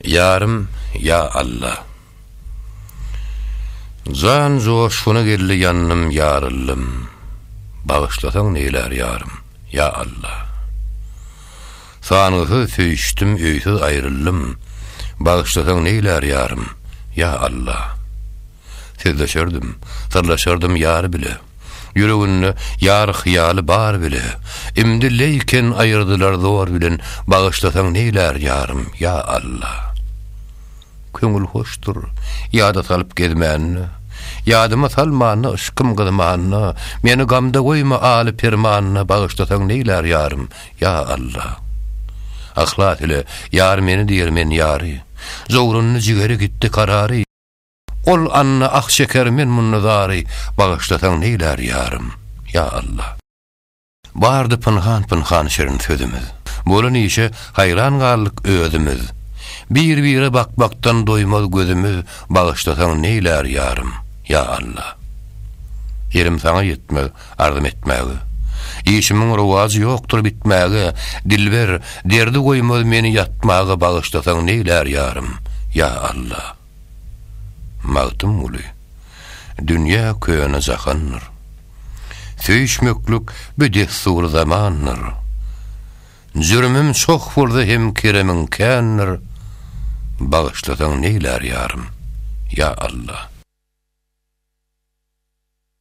Ýarym ýa Alla. Jan joşguna geldi ýandym ýaryldym Bagyşlasaň neýlär ýarym ýa Alla. Sangysyz söýüşdim öýsüz aýryldym Bagyşlasaň neýlär ýarym ýa Alla. Sözleşerdim, syrlaşardym ýar bile. Ýüreginde ýar hyýaly bar bile. Imdi leýken aýyrdylar zor bilen Bagyşlasaň neýlär ýarym, ýa Alla. Köňül hoşdur, ýada salyp gezmände, Ýadyma salmanda yşkym gyzmanda, Meni gamda goýma aly permanda Bagyşlasaň neýlär ýarym, ýa Alla. Yhlas ile ýar meni diýer men ýary, Jowrundy jigeri gitdi karary. Ol Anna ah çeker men munda zary bagyşlasaň neýlär ýarym ýa Allah. Bardy pynhan pynhan şirin sözümiz Bolan işe haýran galdyk özümiz Bir bire bakmakdan doýmaz gözümiz Bagyşlasaň neýlär ýarym ýa Allah. Elim saňa ýetmez arzym etmäge Işimiň rowajy ýokdur bitmäge Dilber derdi goýmaz meni ýatmaga Bagyşlasaň neýlär ýarym ýa Allah. Magtymguly, Dünýä köne jahandyr. Söýüşmeklik bi dessury zamandyr. Jürümim çoh bolsa hem keremiň kändir, Bagyşlasaň neýlär ýarym, ýa Alla.